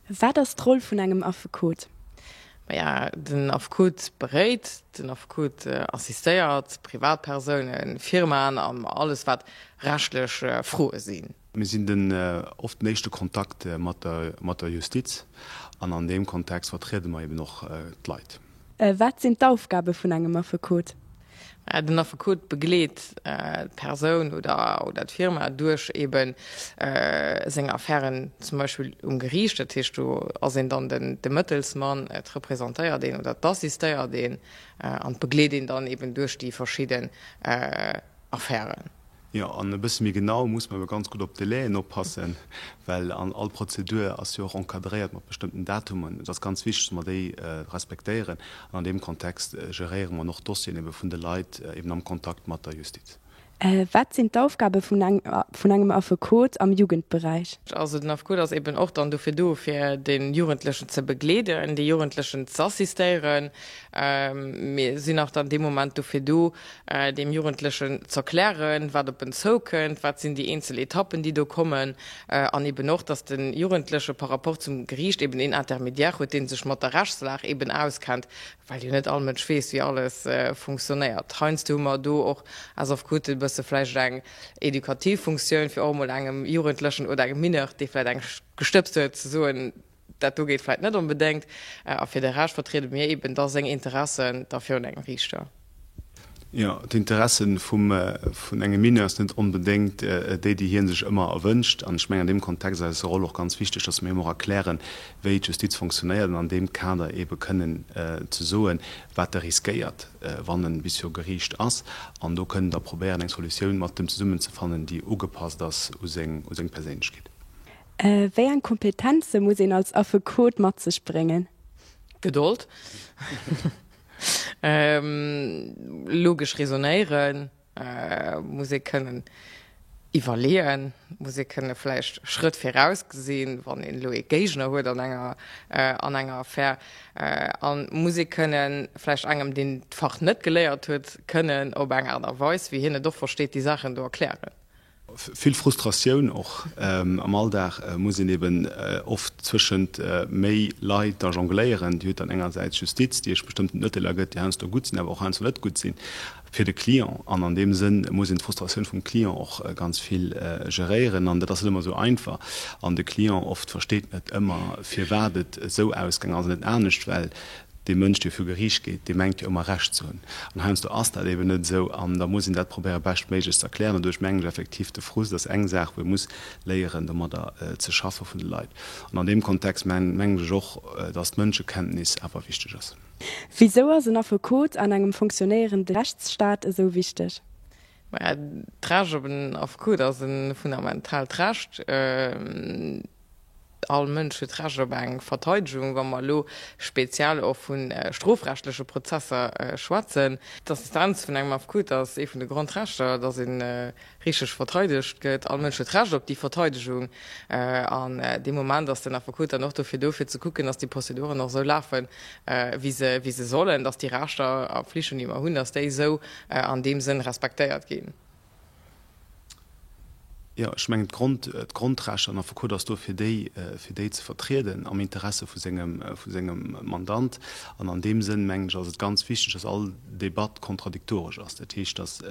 Wat ass d'Roll vun engem Affekot? Maja, den Affekot beréit, den Affekot assistéiert Privatpersounen, Firmaen an alles wat rechtlech Froe sinn. Mir sinn den oft den éischte Kontakt mat der Justiz an an deem Kontext vertriede mer eben och d'Leit. Wat sinn d'Aufgabe vun engem Affekot? Den Affekot begleet d'Persoun oder d'Firma duerch eebe seng Affären zum Beispill um Geriicht. Dat heescht, do ass een dann de Mëttelsmann, et representéiert een oder et assistéiert een an begleet een dann eeben duerch déi verschidden Affären. Jo, an e bësse méi genau muss mer jo ganz gutt op d'Délai'en oppassen, well an all Prozedur ass jo och encadréiert mat bestëmmten Datummen. Et ass ganz wichteg, dass mer déi respektéieren an an deem Kontext geréiere mer och d'Dossieren ebe vun de Leit eben am Kontakt mat der Justiz. Wat sinn d'Aufgabe vun engem Affekot am Jugendberäich? Also den Affekot ass eben och dann dofir do, fir de Jugendlechen ze begleeden, de Jugendlechen z'assistéieren. Mir sinn och dann dee Moment dofir do, deem Jugendlechen z'erklären, wat op en zoukënnt, wat sinn déi eenzel Etappen, déi do kommen, an eben och, dass de Jugendleche par rapport zum Geriicht eben een Intermédiaire huet, dee sech mat der Rechtslag eben auskennt, well jo net all Mënsch weess, wéi alles funktionéiert. Heiansdo hu mer do och aus Affekoten e bësse vläicht eng edukativ Funktioun, fir och emol engem Jugendlechen oder engem Mineur, dee vläicht eng gestëbst huet, ze soen, Dat do geet vläit net onbedéngt, a fir de Rescht vertriede mir eben da seng Interessen da virun engem Riichter. Jo, d'Interesse vum vun engem Mineur ass net onbedéngt déi, déi hie sech ëmmer erwënscht. An ech mengen an deem Kontext ass eis Roll och ganz wichteg, datt mir him och erklären, wéi d'Justiz fonctionnéiert, an an deem Kader ebe kënnen ze soen, wat e riskéiert, wann e bis viru Geriicht ass. An do kënnen da probéieren, eng Solutioun mat dem zesummen ze fannen, déi ugepasst ass u seng u seng Perséinlechkeet. Wéi eng Kompetenze muss een als Affekot mat sech bréngen? Gedold, logesch Resonéiere muss ee kënnen, iwwerleeë muss ee kënnen, vläicht Schrëtt viraus gesinn, wann een elo ee Géigner huet an enger Affär. A muss ee kënnen, vläicht engem, deen d'Fach net geléiert huet, kënnen op eng Aart a Weis, wéi hien et och versteet, déi Saachen do erklären. Vill Frustratioun och am Alldag muss een eben oft zwëschent méi Leit da jongléieren. Dir hutt dann engersäits d'Justiz, déi iech bestëmmt d'Mëtteler gëtt, déi heiansdo gutt sinn, awer och heiansdo net gutt sinn fir de Client. An an deem Sënn muss een d'Frustratioun vum Client och ganz vill geréieren. An dat ass net ëmmer esou einfach. An de Client oft versteet net ëmmer, firwat et esou ausgaangen ass an net anescht, well Dee Mënsch, dee viru Geriicht geet, dee mengt jo ëmmer Recht ze hunn. An heiansdo ass dat eben net esou. An da muss een dat probéiere beschtméiglech ze erklären. An do ech mengen ech effektiv, de Frust ass eng Saach, wou ee muss léieren domadder ze schaffe vun de Leit. An an deem Kontext mengen ech och, datt d'Mënschekenntnis awer wichteg ass. Wisou ass en Affekot an engem funktionéierende Rechtsstaat esou wichteg? Maja, d'Recht op en Affekot ass e fundamentaalt Recht. All Mënsch huet d'Recht op eng Verteidegung, wa mer elo speziell och vu strofrechtleche Prozesser schwätzen. D'Assistenz vun engem Affekot ass ee vun de Grondrechter, datt ee richteg verteidegt gëtt. All Mënsch huet d'Recht op déi Verteidegung an deem Moment ass den Affekot dann och dofir do, fir ze kucken, datt déi Prozeduren och esou lafen, wéi se sollen, datt déi Rechter a Flichten, déi mer hunn, datt déi esou an deem Sënn respektéiert ginn. Jo, ech mengen, d'Grondrecht, an Affekot ass do fir déi, fir déi ze vertrieden am Interesse vu sengem, vu sengem Mandant. An an deem Sënn, mengen ech, ass et ganz wichteg, dass all Debatt kontradiktoresch ass. Dat heescht, dass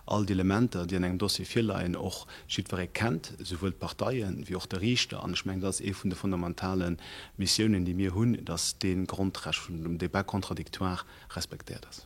all d'Elementer, déi an engem Dossier virleien, och jiddweree kennt, souwuel d'Parteien wéi och de Riichter. An ech mengen, dat ass ee vun de fondamentale Missiounen, déi mir hunn, dass dee Grondrecht vum Débat contradictoire respektéiert ass.